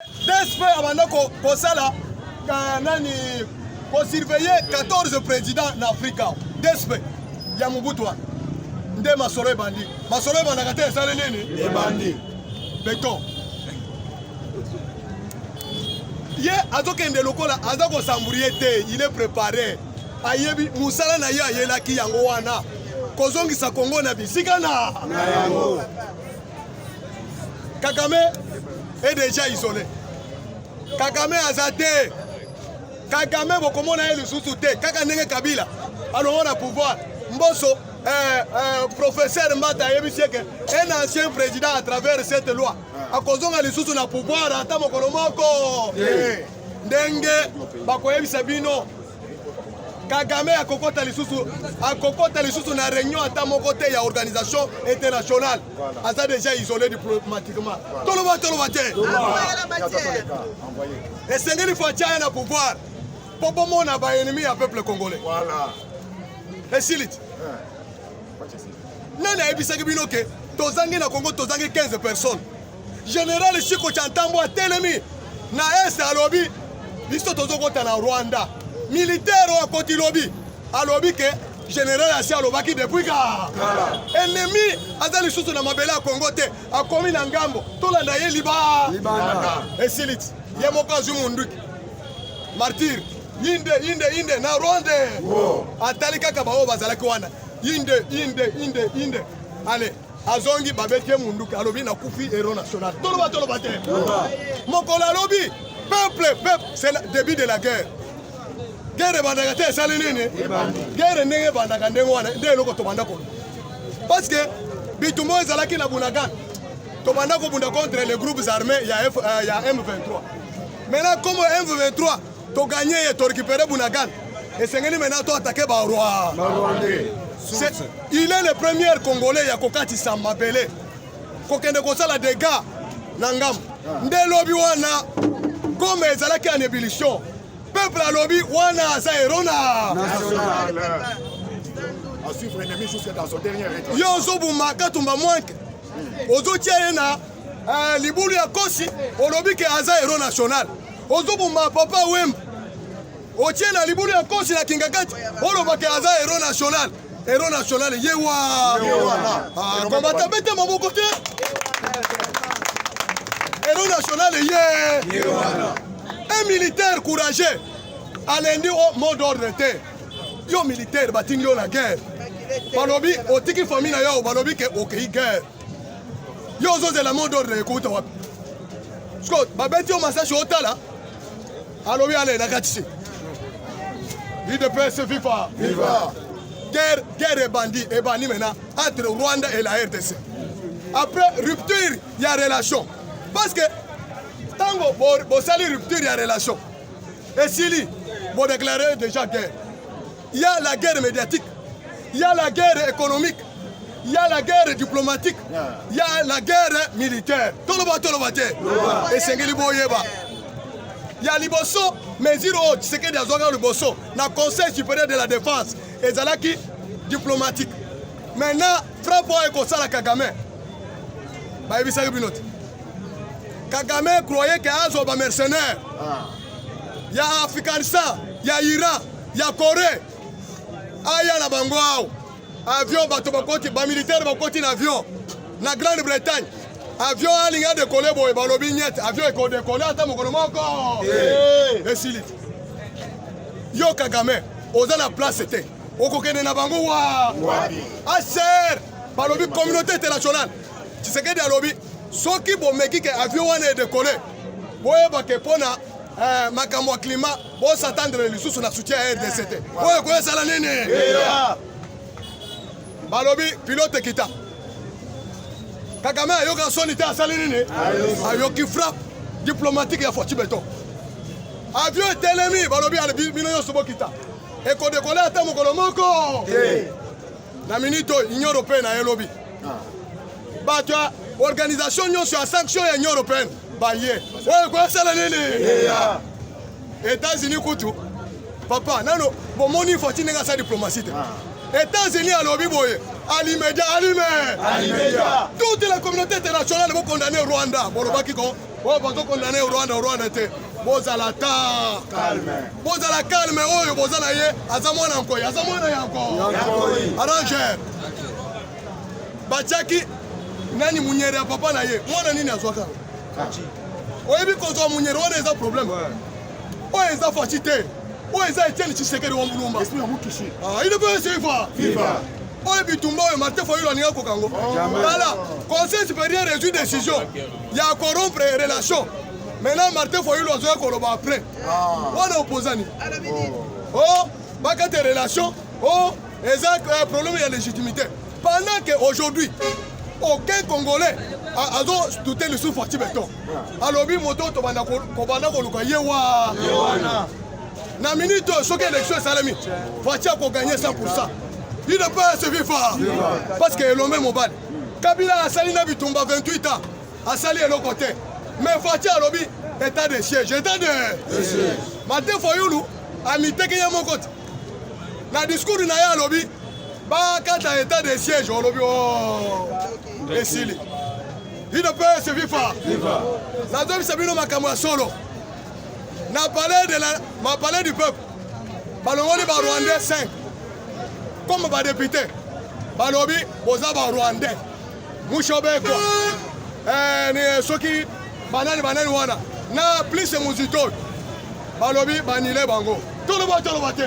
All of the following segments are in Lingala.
DSP abanda kosala euh, nani kosurveille 14 président na afrika DSP ya mobutu wana nde masolo ebandi masolo ebandaka te esali nini ebandi beton ye azokende lokola aza kosamburie te il est préparé ayebi mosala na ye ayelaki yango wana kozongisa kongo na bisika na yango Kagame est déjà isolé. Kagame aza te. Kagame bokomona ye lisusu te. Kaka ndenge Kabila alongo na pouvoir. Mboso eh, eh, professeur Mbata ayebisi eke un ancien président à travers cette loi akozonga lisusu na pouvoir ata mokolo moko ndenge bakoyebisa bino Kagame akokota lisusu akokota lisusu na réunion ata moko te ya organisation internationale aza déjà isolé diplomatiquement toloba toloba te esengeli fo atya ye na pouvoir mpo bomona baennemi ya peuple congolais esili ti nani ayebisaki bino ke tozangi na congo tozangi 15 personnes General Chiko Chantambo atelemi na est alobi biso tozokota na Rwanda. Militaire oyo akoti lobi alobi ke general asi alobaki depuis ka ennemi aza lisusu na mabele ya Congo te akomi na ngambo tolanda ye liba esiliti ye moko azwi munduki martyr inde inde inde na Rwanda atali kaka baoyo bazalaki wana inde inde inde inde allez azongi babeti ye munduki alobi nakufi hero national toloba toloba te mokolo alobi peuple peuple c'est le début de la guerre guerre ebandaka te esali nini guerre ndenge ebandaka ndenge wana nde eloko tobanda kolo parce que bitumba oyo ezalaki na bunagana tobanda kobunda contre les groupes armés ya, F, uh, ya m23 maintenant comme m23 To gagner et to récupérer Bunagana. Et c'est maintenant toi attaquer ba roi. Il est le premier Congolais ya kokatisa mabele. Kokende kosala dégâts na ngambo. Ah. Nde lobi wana comme ezalaki en ébullition. Peuple alobi wana aza erona. National. À suivre l'ennemi jusqu'à son dernier état. Yo ozobuma katumba mwanke. Ozotia ye na eh, libulu ya kosi olobi ke aza héros national. ozoboma papa wemba otie na libulu ya kosi na kingakati olobaka aza hero national hero national ye wana ah, kombata bete maboko te hero national ye un militaire courageux alendi oh, mot d'ordre te yo militaire batindi yo na guerre balobi otiki famille na yo balobi ke okei guerre yo ozozela mot d'ordre ekouta wapi siko babeti yo masashi otala alobi ale na kati se udps viva viva guerre guerre ebandi ebandi maintenant entre rwanda et la rdc après rupture ya relation parce que ntango bosali rupture ya relation esili bodeklare déjà guerre ya la guerre médiatique ya la guerre économique ya la guerre diplomatique ya la guerre militaire toloba toloba te esengeli boyeba ya liboso mesure oyo tshisekedi azwaka liboso na conseil supérieur de la défense ezalaki diplomatique maintenant frappe oyo ekosala kagame bayebisaki bino te kagame croye ke azwa bamercenaire ah. ya Afghanistan, ya Iran, ya Corée. Aya na bango ao. Avion bato bakoti, ba militaire bakoti na avion na Grande-Bretagne. Avion alinga dekole boye balobi nyete, avion ekodekole ata mokolo moko. Eh. Esili. Yo Kagame, oza na place te. Okokende na bango wa. Aser, balobi communauté internationale. Tshisekedi alobi Soki bomeki ke avion wana e decoller, boyeba ke pona eh, makambo ya climat bo s'attendre lisusu na soutien ya RDC te. Oyo ekoya sala nini? Yeah. Balobi pilote kita. Kagame ayoka soni te asali nini? Ayoki frappe diplomatique ya Fatshi Beton. Avion etelemi balobi bino nyonso bokita. Ekodekola ata mokolo moko. Yeah. na minute oyo union européenne na ye lobi bato ya organisation nyonso ya sanction ya union européenne baye oyo ekosala nini états-unis kutu papa nano bomoni infati ndenge asala diplomatie te ah. états-unis alobi boye alimedia alime toute la communauté internationale bokondane rwanda bolobaki ko oyo bazo condamne rwanda rwanda te bozala ta bozala calme oyo boza na ye aza mwana nkoi aza mwana ya nkoi arranger batiaki nani munyere ya papa na ye mwana nini azwaka oyebi kozwa munyere wana eza problème oyo eza faci te oyo eza etienne tshisekedi wa mulumba ah, il ne peut suivre oyo bitumba oyo martin fayulu alingaki kokango tala conseil supérieur ezwi décision ya corrompre relation maintenant martin foyulu azoya koloba après ah. wana opposani o oh. oh, bakate relation o oh, eza euh, problème ya légitimité pendant que aujourd'hui aucun congolais azotute lisusu fati beton alobi moto tobanda kobanda koluka ye wana na minute oyo soki élection esalemi fati akoganye 100 pourcent il ne peut se vivre parce que elombe mobali Kabila asali na bitumba 28 ans asali eloko te mais Fatshi alobi état de siège état de Martin Fayulu amiteki ye moko te na discours na ye alobi bakata état de siège olobi o oh, esili bino mpe se viva nazobisa bino makambo ya solo na palais de la ma palais du peuple balongoli ba rwandais 5 comme ba député balobi boza ba rwandais mushobeko eh, ni eh, soki banani banani wana na plus muzito balobi banile bango toloba toloba te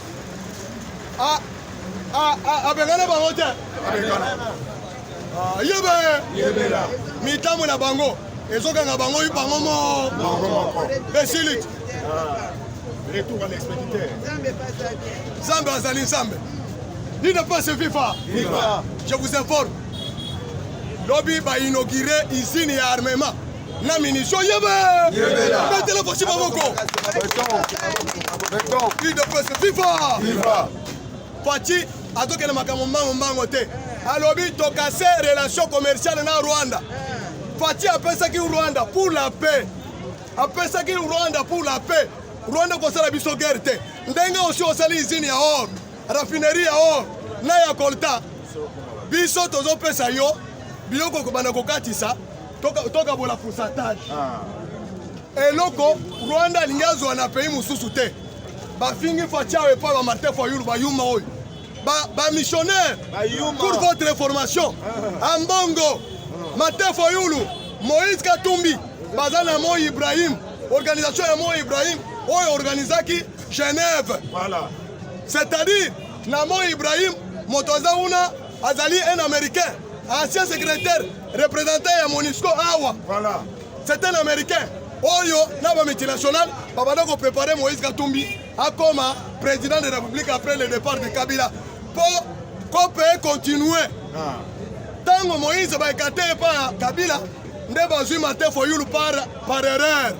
Ah, ah, ah, abengana bango te ah, yebe mitambo na bango ezokanga bango bango moko esiliti retour à l'expéditeur nzambe azali nzambe ni ne pas se viva je vous informe lobi bainaugure usine ya armement na minisio yebe betele vosi maboko udps viva faci azokende makambo mbango mbango te alobi tokase relation commerciale na rwanda faci apesaki rwanda pour la paix apesaki rwanda pour la paix rwanda kosala biso guerre te ndenge osi osali izini ya or raffinerie ya or na ya colta biso tozopesa yo biloko kobanda kokatisa tokabola pourcentage ah. eloko rwanda alingi azwa na pays mosusu te bafingi faciao epai ba martin fayulu bayuma oyo bamissionnaire pour votre information ah. ambongo ah. martin fayulu moïse katumbi baza na moi ibrahim organisation ya moi ibrahim oyo organisaki genève c'est-à-dire na moi ibrahim moto aza kuna azali un américain ancien secrétaire représentant ya monisco awa voilà. c'est un américain oyo na bamultinational babanda koprépare moïse katumbi akoma président de république après le départ de kabila mpo kope ekontinue ntango ah. moïse baekate epa kabila nde bazwi mate foyulu par, par erreur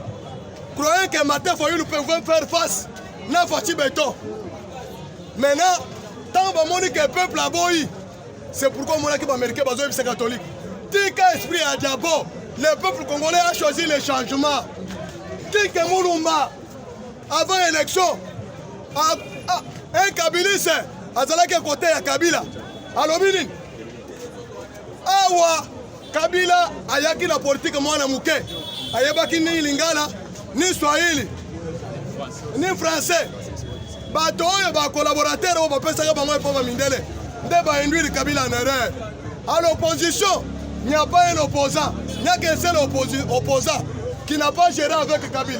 croyant que mate foyulu pouvait faire face na faci beton Maintenant, ntango bamoni ke peuple aboyi, c'est pourquoi omonaki baaméricain bazoyebisa catholique tika esprit ya diabo le peuple congolais a choisi le changement tike mulumba avant élection un kabiliste azalaki kote ya kabila alobi nini awa Kabila ayaki na politike mwana moke, ayebaki ni Lingala ni Swahili ni Français. Bato oyo ba collaborateur oyo bapesaka bango epoma mindele nde bainduire Kabila en erreur. À l'opposition, il n'y a pas un opposant, il n'y a qu'un seul opposant qui n'a pas géré avec Kabila.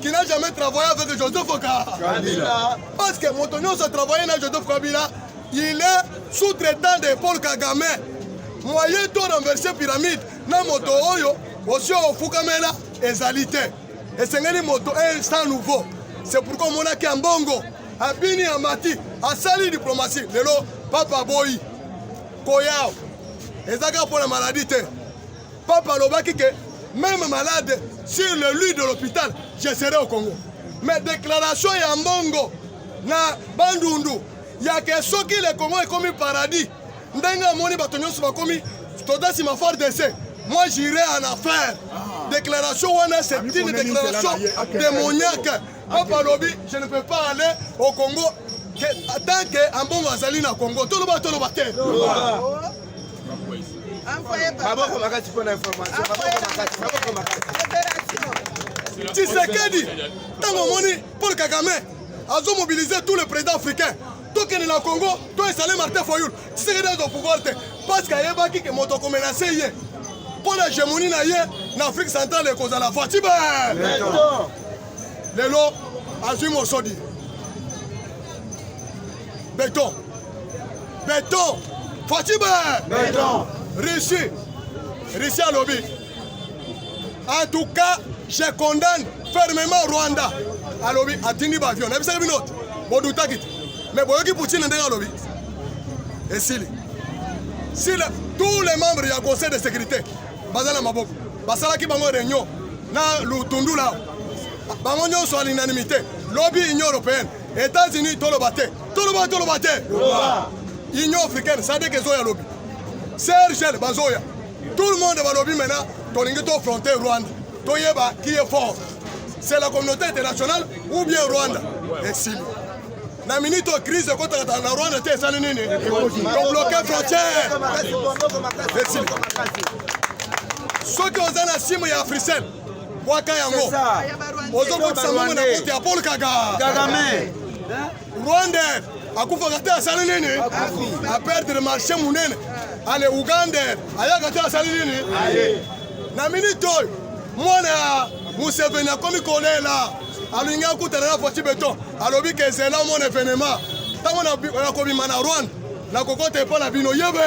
qui n'a jamais travaillé avec Joseph Kabila. Parce que Motonio a travaillé avec Joseph Kabila, il est sous-traitant de Paul Kagame. Moyen de renverser pyramide, na moto oyo, aussi au Foukamela, ezalité. Et c'est un moto, un sans nouveau. C'est pourquoi mon aki Ambongo, Abini Amati, a sali diplomatie. Lelo, Papa Boy, Koyao, ezaka pour la maladie. Papa alobaki que même malade sur le lit de l'hôpital je serai au Congo. Mais déclaration ya mbongo na bandundu ya ke soki le Congo ekomi paradis ndenge amoni bato nyonso bakomi toza nsima fort dese moi j'irai en affaire ah. déclaration wana c'est ah, une déclaration démoniaque papa alobi je ne peux pas aller au congo tant que ambongo azali na congo toloba toloba te maboko makasi mpo na information maboko makasi maboko makasi tshisekedi ntango omoni paul kagame azomobilize tout le président africain tokende na congo to esale martin foyul tshisekedi azwa pouvoir te parce que ayebaki ke moto akomenase ye mpo na gemoni na ye na afrique centrale ekozala fatibe lelo azwi mosodi Beton. Beton. Fatime. Beton. Rishi. Rishi Alobi. En tout cas, je condamne fermement Rwanda. Alobi, atindi bavion. Na bisaka binote. Bodutaki. Mais boyoki Poutine ndenge alobi. Esili. Si le, tous les membres du Conseil de sécurité, Bazana Maboko, basalaki bango réunion na Lutundula bango nyonso à l'unanimité lobi union européenne États-Unis toloba te toloba toloba te Union africaine sadek ezoya lobi Sergel bazoya tout le monde balobi maintenant tolingi tofronte Rwanda toyeba qui est fort c'est la communauté internationale ou bien Rwanda esili na minute oyo crise ekotaka na Rwanda te esali nini tobloke frontière esili soki oza na simu ya africel bwaka yango ozokotisa mama na kote ya paul kagame rwanda akufaka te asali nini aperdre marché monene ale uganda ayaka te asali nini na minite oyo mwana ya museveni akomi kolela alingi akutana na faci beton alobi ke ezela mona evenema ntango nakobima na rwanda nakokota epai na bino yebe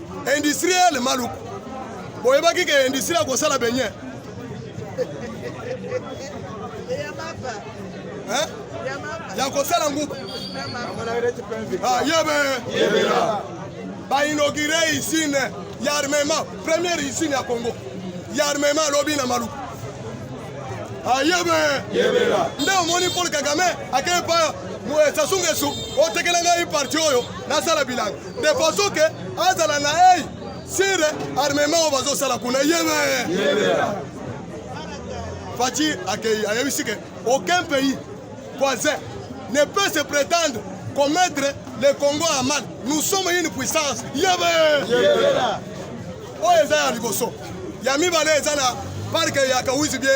industriel maluku boyebaki ke industrie ya kosala benye ya kosala nguba ah, yebe bainogire usine ya armement première usine ya congo ya armement alobi na maluku ayebe ah, nde omoni paul kagame akei pa sasungesu otekela ngai parti oyo nasala bilanga de façon que azala na ei sur armement oyo bazosala kuna yebe faci akei ayebisi ke aucun pays voisin ne peut se prétendre commettre le congo en mal nous sommes une puissance yebe oyo eza ya liboso ya mibale eza na parke ya kawisi bie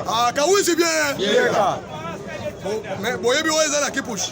ah, kawisi bie boyebi oyo eza na kipushi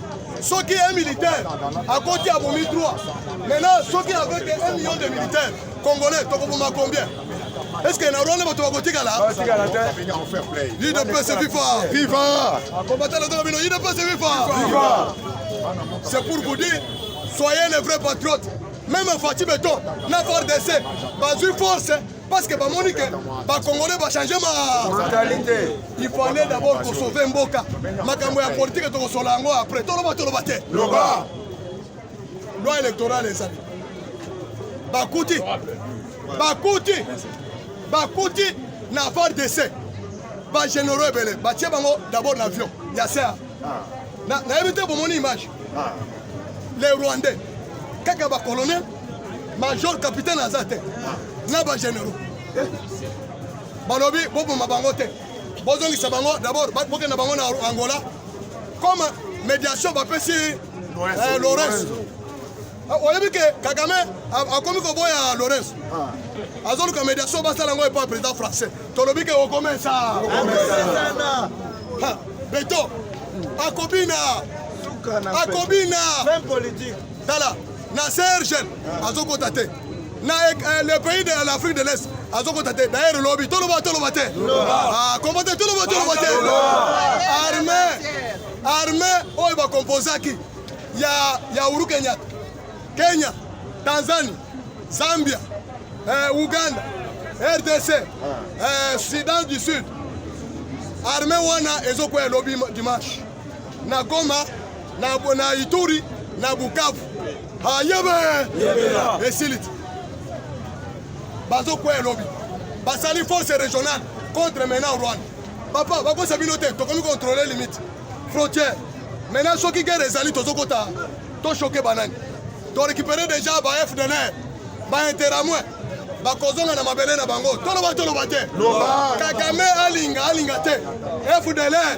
soki un militaire akoti abomi 3 maintenant soki avec 1 million de militaire congolais tokoboma combien est ce que na rwanda bato bakotikala idps viva viva combatana toka bino idps viva c'est pour vous dire soyez les vrais patriotes même fati beton na fardc bazwi force parce que bamoni ke bacongolais bachange mentalité il fallait d'abord kosauve mboka makambo ya politike tokosola yango après toloba toloba te loba loi électorale ezali bakuti bakuti bakuti na var dese bagénéraux ebele batie bango d'abord na avion ya ser nayebi te bomoni image ah. les rwandais kaka bacolonel major capitaine aza te na bagénéraux balobi boboma bango te bozongisa bango d'abord bokenda bango na angola comme médiation bapesi eh, lawrence ah, oyebi ke kagame akomi koboya lawrence ah. azoluka médiation basala yango epa président français tolobi ke okomesa beto akobina akobina tala na sergel azokota te na eh, eh, le pays de l'afrique de l'est azokota te dayer lobi toloba toloba te ah, kombo te toloba toloba te arme arme oyo bakomposaki ya, ya uru kenyata kenya tanzanie zambia eh, uganda rdc eh, sudan du sud arme wana ezokweya lobi dimanche na Goma na bona Ituri na Bukavu ayebe ah, esiliti bazokwea lobi basali force régionale contre maintenant Rwanda papa bakosa bino te tokomi contrôler limite frontière maintenant soki guerre ezali tozokota toshoke banani torécupere déjà ba fdlr bainteramwe bakozonga na mabele na bango toloba toloba te kagame alinga alinga te fdlr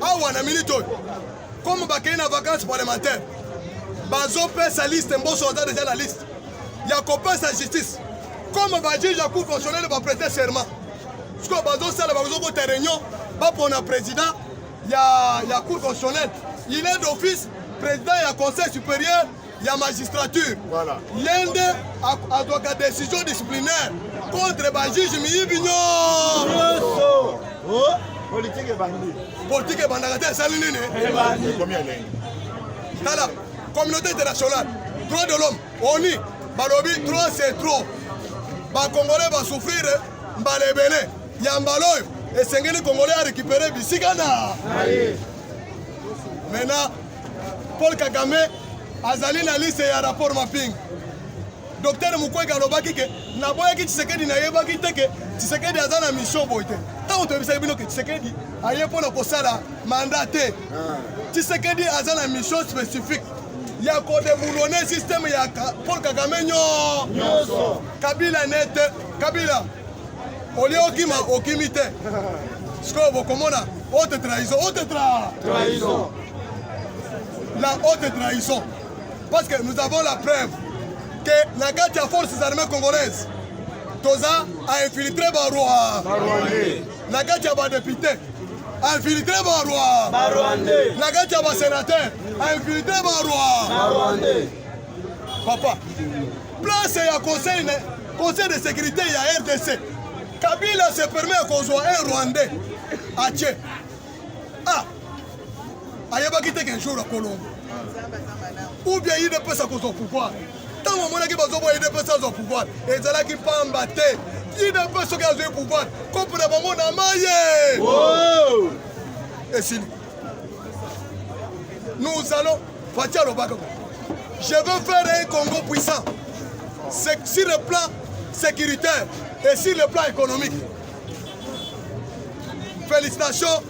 awa na minute oyo comme bakei na vacance parlementaire bazopesa liste mboso aza deja na liste ya kopesa justice comme bajuge ya cour constitutionnel baprete serment sikoyo bazosala bazokota réunion bapona président ya, ya cour constitutionnel il est d'office président ya conseil supérieur ya magistrature voilà. ye nde azwaka décision disciplinaire contre bajuge miyibi nyonso oh. politike ebandi politike ebandaka te esali nini ekomi elengi tala communauté internationale droit de l'homme oni balobi trop c'est trop bakongolais basouffrir mbala ebele ya mbala oyo esengeli kongolais arécupere bisika na maintenant Paul Kagame azali na liste ya rapport mapping. Docteur Mukwege alobaki ke naboyaki Tshisekedi nayebaki te ke Tshisekedi aza na mission boye te. Ntango toyebisaki bino ke Tshisekedi aye mpo na kosala mandat te. Ah. Tshisekedi aza na mission spécifique ya kodeboulone systeme ya Paul Kagame nyonso. Kabila nete Kabila olie okima okimi te sikoyo bokomona ote trahison ote trahison la haute trahison parce que nous avons la preuve que na kati ya forces armées congolaises toza a infiltre baroi na kati ya badepute a infiltre baroi na kati ya basenateur a infiltre baroi papa place ya conseil conseil de sécurité ya rdc kabila se permet ya kozwa un rwandais atie ah ayebaki te qu'un jour akolongo ou bien ye udps akozwa pouvoir ntango amonaki bazoboya udps azwa pouvoir ezalaki mpamba te udps soki azwi pouvoir kopo na bango na maye oh! esili nous allons faci alobaka je veux faire un congo puissant sur le plan sécuritaire et sur le plan économique Félicitations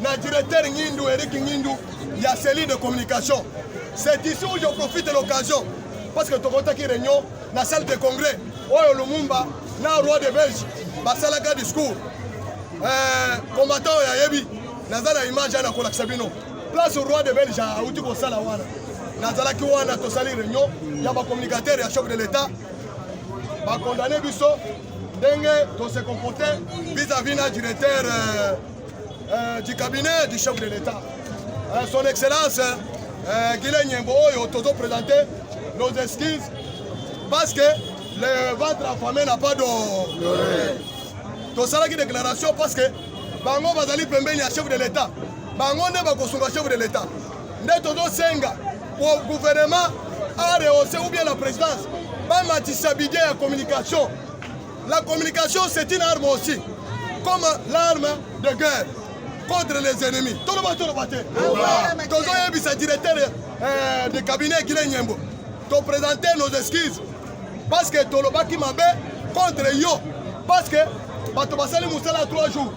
na directeur Ngindu, Eric Ngindu, il y a cellule de communication. C'est ici où je profite de l'occasion parce que tokotaki réunion na salle de congrès oyo Lumumba na roi de Belge basalaka discours euh, combattant oyo ayebi naza na image aya nakolakisa bino place roi de Belge auti kosala wana nazalaki wana tosali réunion ya bacommunicateur ya chef de l'état bakondane biso ndenge to se comporter vis-à-vis na directeur euh, euh, du cabinet du chef de l'État euh, son excellence euh, Guilain Nyembo oyo tozo présenter nos excuses parce que le ventre affamé n'a pas d'eau tosalaki déclaration parce que bango bazali pembeni ya chef de l'État bango nde bakosunga chef de l'État nde tozosenga po gouvernement a rehausse ou bien la présidence bamatisa budget ya communication la communication c'est une arme aussi comme l'arme de guerre contre les ennemis toloba toloba te tozoyebisa directeur euh, de cabinet guile nyembo topresente nos excuses parce que tolobaki mabe contre yo parce que bato basali mosala 3 jours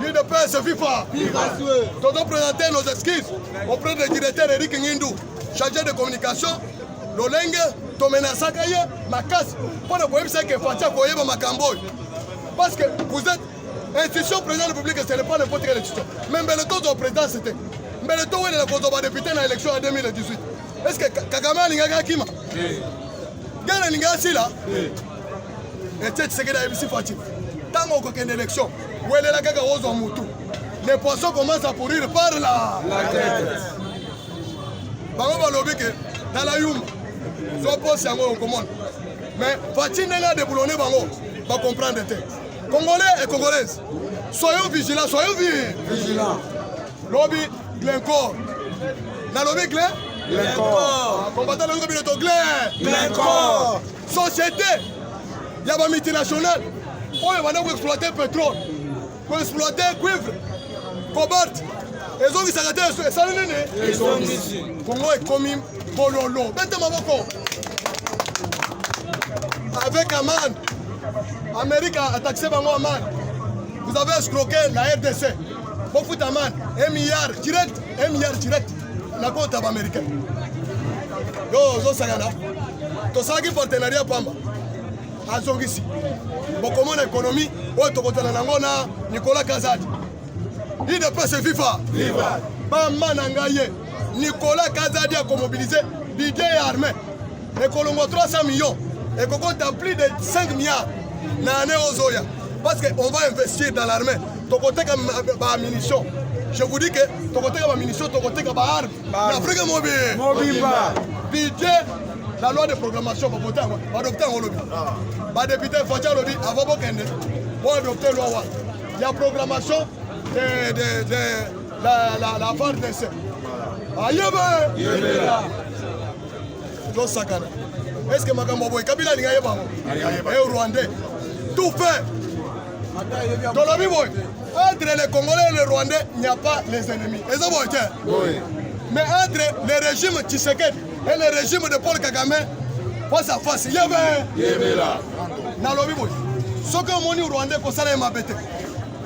L'UDPS viva! Viva Dodo présenter nos excuses auprès du directeur Eric Ngindou, chargé de communication, lolenge tomenasaka ye makasi mpo na koyebisa ke Fatshi akoyeba makambo oyo parce que vous êtes institution président de la République ce n'est pas n'importe quelle institution mais mbele tozwa présidence te mbele towelela kozwa badepute na élection ya 2018 est ce que Kagame alingaki akima gana alingaki asila etie Tshisekedi ayebisi Fatshi ntango okokende élection welela kaka ozwa mutu le poisson commence à pourrir par la bango balobi ke tala yuma zwa posi yango okomona mais faci ndenge adeblone bango bacomprendre te congolais et congolaise soyons vigilant soyons vigilant lobi glencor nalobi gle combattant lobi bino to gle glencor société ya ba multinationale oyo banda koexploite petrole koexploite cuivre cobalt ezongisaka te esali nini kongo ekomi bololo bete maboko avec amande amérique ataxe bango amande vous avez escroqué la rdc bofuta amande un milliard direct un milliard direct nakota ba américain yo ozosakana tosalaki partenariat pamba azongisi bokomona ekonomi oyo tokotana nango na nicolas kazadi idps viva bama na ngai ye nicolas kazadi akomobilize bidie ya armée ekolongwa 300 millions ekokota plus de 5 milliards na année ozoya parce que on va investir dans l'armée tokoteka bamunition je vous dis que tokoteka bamunition tokoteka baarme na afrique mobimobimba budget la loi de programmation babota yango badokte yango olobi badepute faci alobi avant bokende boadokte loi wana ya programmation de, de, de la, la, la FARDC ayeba ah, tosakana eske makambo boye kabila alingi ayeba yango e eh, rwandais tout fait tolobi boye entre les congolais et les rwandais il n'y a pas les ennemis eza boye te mais entre le régime tshisekedi et le régime de paul kagame face à face yebe nalobi boye soki omoni rwandais kosala ye mabe te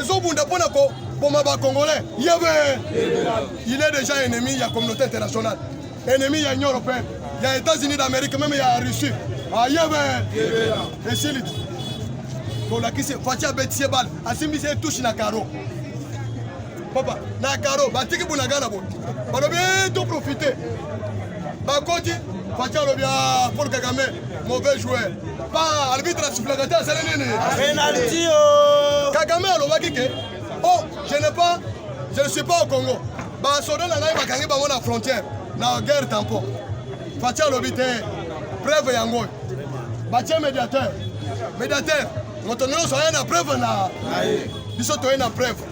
ezobunda mpo na koboma bacongolais yebe il est déjà ennemi ya communauté internationale ennemi ya union européenne ya états-unis d'amérique meme ya russie ayebe ah, esili tolakisi faci abetisi ye bale asimbisi ye touche na caro papa na karo batiki bunagana bo balobi eh, to profite bakoti faci alobi ah, paul kagame mauvais joueur pa arbitre asuflaka te asali nini penalty oh. kagame alobaki ke oh je ne pas je ne suis pas au congo basoda na ngai bakangi bango na frontière na guerre tampon faci alobi te preuve yango oyo batie médiateur médiateur moto nyonso aye na preuve na biso toye na preuve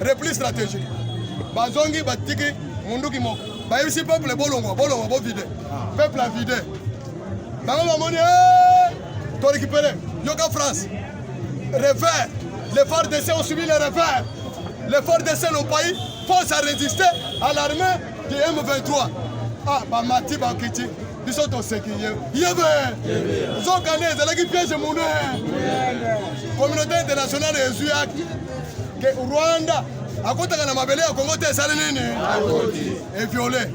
repli stratégique bazongi batiki munduki moko bayebisi peuple bolongwa bolongwa bovide peuple avide bango bamoni eh, torekipere yoka france revers les fardc ont subi le revers les fardc nos pays force à résister à l'armée du m23 ah bamati bakiti biso toseki ye yebe nzoka nde ezalaki piège monene communauté internationale ezwi acte ke rwanda akotaka na mabele ya kongo te esali nini eviole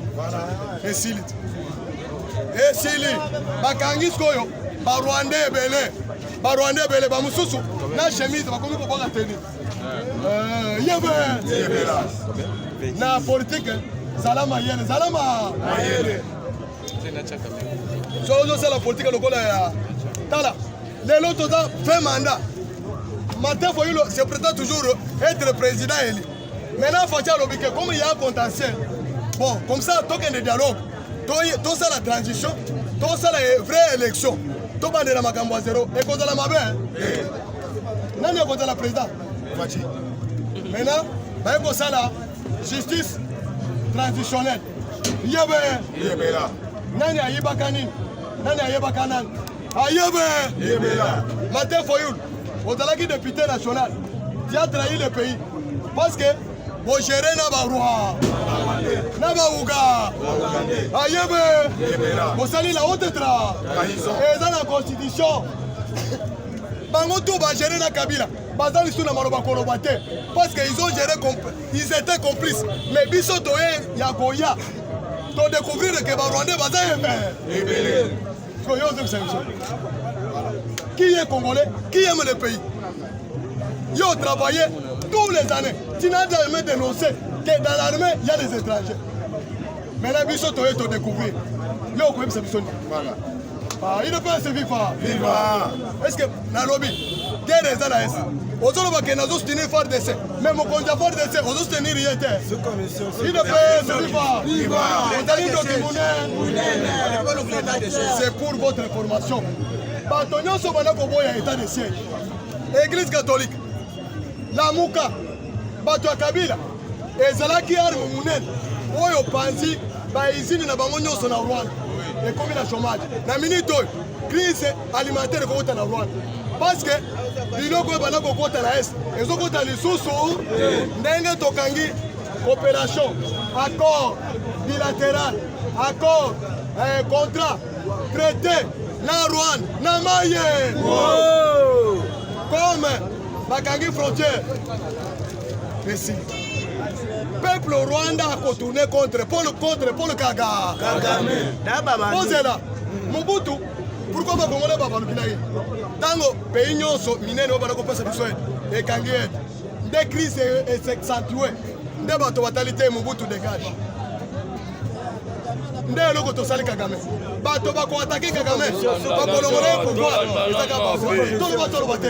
esili te esili bakangi sikoyo barwanda ebele barwanda ebele bamosusu na chemise bakomi kobwaka teni Eh, yebe na politike zala mayele zala mayele so ozosala politike lokola ya tala lelo toza fin mandat martin foyulo se prétend toujours être président eli maintenant faci alobi ke comme ya contentiel bon comme ça tokende dialogue tosala transition tosala vraie élection tobandela makambo ya zero ekozala mabe nani akozala président faci maintenant baye kosala justice transitionnelle yebe yebela nani ayibaka nini nani ayebaka nani ayebe yebela martin foyul ozalaki député national tu as trahi le pays parce que bogere na barwa na bauga ayebe bosali la haute tra eza na constitution bango tout ba gérer na Kabila baza lisusu na maloba koloba te parce que ils ont géré ils étaient complices mais biso toye ya koya to découvrir que ba rwandais baza ebele koyo ozokisa biso qui est congolais qui aime le pays yo travaillé tous les années tu n'as jamais dénoncé que dans l'armée il y a des étrangers Mais là, biso toye to découvrir. Yo okoyebisa biso nini? Voilà. Ah, il ne peut se vivre. Viva. Est-ce que nalobi guerre eza na est? ozoloba ke nazo soutenir fardc mais mokonzi ya fardc ozo soutenir ye te idepsozali ndoki monene c'est pour votre information bato nyonso banda koboya état de siège église catholique lamuka bato ya kabila ezalaki arme monene oyo panzi baizini na bango nyonso na rwanda ekomi na chomage na minute oyo crise alimentaire ekokota na rwanda parce que biloko oyo banda kokota na est ezokota lisusu ndenge tokangi coopération accord bilatéral accord eh, contrat traité na rwanda na maye comme bakangi frontière Merci. Peuple au Rwanda a retourné contre Paul, contre Paul Kaga. Kagame. Bozela. Mobutu. Pourquoi ba Congolais ba baluki na ye? Tango pays nyonso minene oyo balako pesa biso aide. Ekangi aide. Nde crise est s'accentuer. Nde bato batali te Mobutu dégage. nde eloko tosali kagame bato bakoatake kagame bakolongola ye pouvoir ezaka toloba toloba te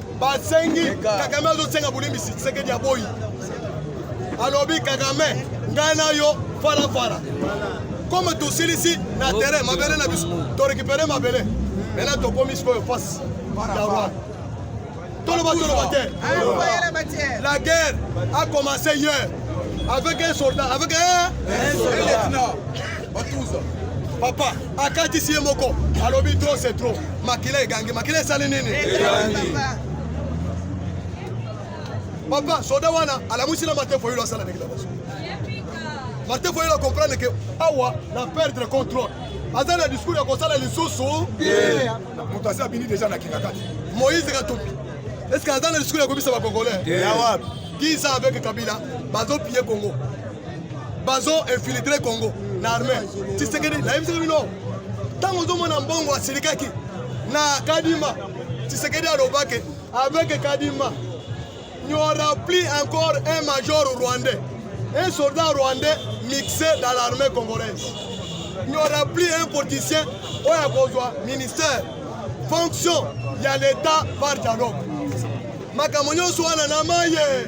basengi kagame azosenga bolimbisi tshisekedi aboyi alobi kagame ngai na yo falafala comme tosilisi na terrain mabele na biso torekipere mabele mena tokomi sikoyo face ya rwanda toloba toloba te la guerre a commencé hier avec un soldat avec un, un soldat. Batuza. Papa, akati siye moko. Alobi trop c'est trop. Makila egangi, makila esali nini? Egangi. Papa, soda wana alamusi na Martin Foyolo asala ndenge na baso. Martin Foyolo comprendre que awa na perdre contrôle. Aza na discours ya kosala lisusu. Moto asi abini deja na kingakati. Moïse Katumbi. Est-ce que aza na discours ya kobisa ba Congolais? Ya wapi? 10 ans avec Kabila, bazo piller Congo. bazo infiltre congo na armée tisekedi nayebisaki bino ntango ozomona mbongo asilikaki na kadima tisekedi alobaki avec kadima n'y aura plus encore un major rwandais un soldat rwandais mixé dans l'armée congolaise n'y aura plus un politicien oyo akozwa ministère fonction ya l'état par dialogue makambo nyonso wana na maye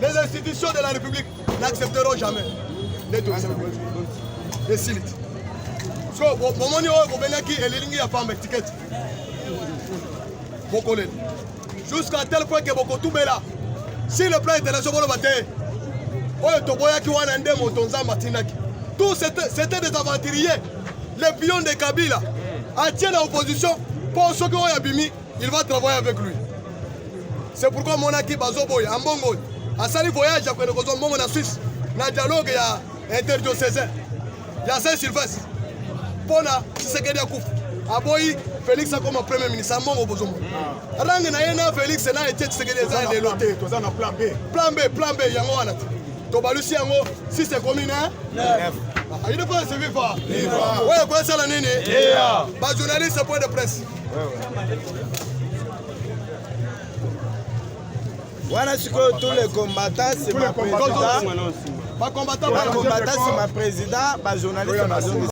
Les institutions de la République n'accepteront jamais. esili so bomoni oyo bobengaki elilingi ya pamba etikete bokoleli jusqu'à tel point ke bokotubela si le plan international boloba te oyo toboyaki wana nde moto nzambe atindaki tout c'était des aventuriers les pions de kabila atie na opposition mpo soki oyo abimi il va travailler avec lui c'est pourquoi omonaki bazoboya ambongo asali voyage ya kokende kozwa mbongo na suisse na dialogue ya interdiocésain ya saint sylvestre mpo na tshisekedi akufa aboyi felix akoma premier ministre ambongo bozomo ah. range na ye na felix na etie tshisekedi eza ya lelo te plan b plan b yango wana te tobalusi yango si sekomi na ayidefaa seviva oyo ekoyesala nini bajournaliste point de presse wana sikoyo tous les combattants c'est ma président ba combattants c'est ma président ba journalistes bazongisa